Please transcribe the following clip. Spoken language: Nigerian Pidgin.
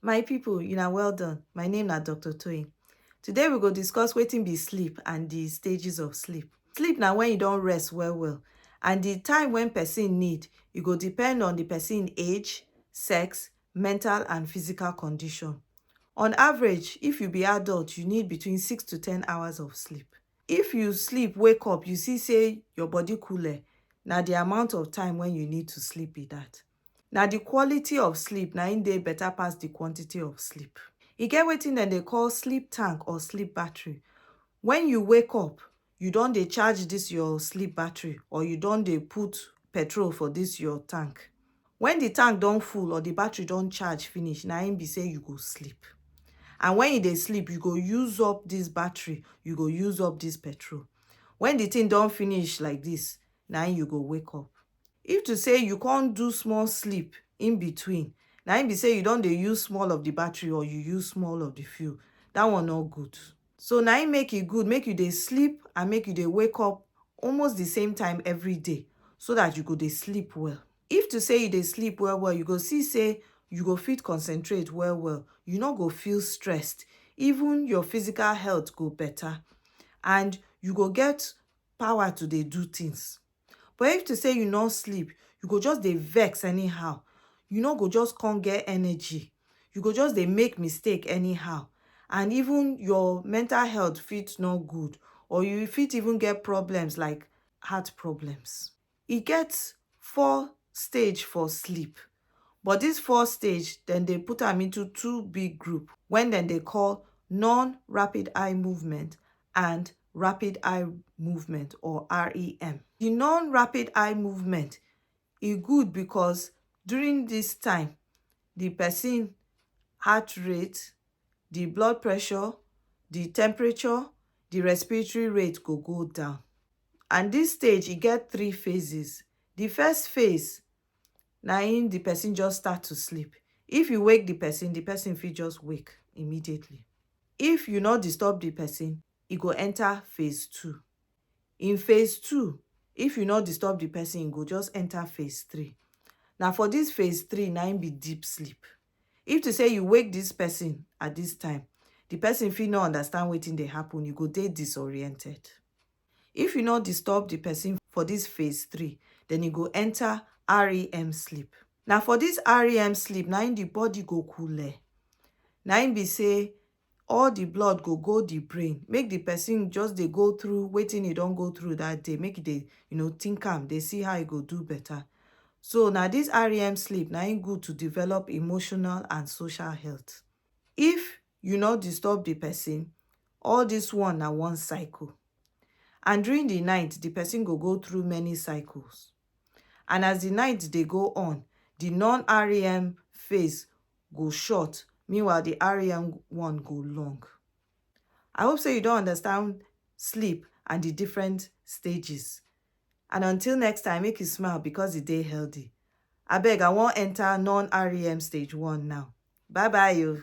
My people, you are well done. My name na Dr. Toyin. Today we go discuss wetin be sleep and the stages of sleep. Sleep na when you don rest well well and the time when person need, e go depend on the person age, sex, mental and physical condition. On average, if you be adult, you need between 6 to 10 hours of sleep. If you sleep, wake up, you see say your body cool, eh, na the amount of time when you need to sleep be that. Na the quality of sleep na im dey better pass the quantity of sleep. E get wetin dem dey call sleep tank or sleep battery. When you wake up, you don dey charge this your sleep battery or you don dey put petrol for this your tank. When the tank don full or the battery don charge finish, na im be say you go sleep. And when you dey sleep, you go use up this battery, you go use up this petrol. When the thing don finish like this, na im you go wake up. If to say you come do small sleep in between, na im be say you don dey use small of the battery or you use small of the fuel, that one no good. So na im make e good make you dey sleep and make you dey wake up almost the same time every day so that you go dey sleep well. If to say you dey sleep well well, you go see say you go fit concentrate well well, you no go feel stressed, even your physical health go better and you go get power to dey do things. but if to say you no sleep you go just dey vex anyhow you no go just come get energy you go just dey make mistake anyhow and even your mental health fit no good or you fit even get problems like heart problems e get four stage for sleep But dis four stage dem dey put am into two big group wen dem dey call non-rapid eye movement and rapid eye movement or REM. Di non-rapid eye movement e good bicos during dis time di pesin heart rate, di blood pressure, di temperature, di respiratory rate go go down and dis stage e get three phases. Di first phase na im the person just start to sleep if you wake the person the person fit just wake immediately if you no disturb the person e go enter phase two in phase two if you no disturb the person e go just enter phase three na for this phase three na im be deep sleep if to say you wake this person at this time the person fit no understand wetin dey happen you go dey disoriented If you no disturb the person for this phase three, then e go enter REM sleep. Na for this REM sleep na im the body go coole. Na im be say all the blood go go the brain, make the person just dey go through wetin e don go through that day, make e dey you know think am, dey see how e go do better. So na this REM sleep na im good to develop emotional and social health. If you nor disturb di pesin, all dis one na one cycle. And during di night, di pesin go go through many cycles. And as di night dey go on, di non-REM phase go short, meanwhile di REM one go long. I hope sey you don understand sleep and di different stages. And until next time make you smile because e dey healthy. Abeg I wan enter non-REM stage one now. Bye bye o.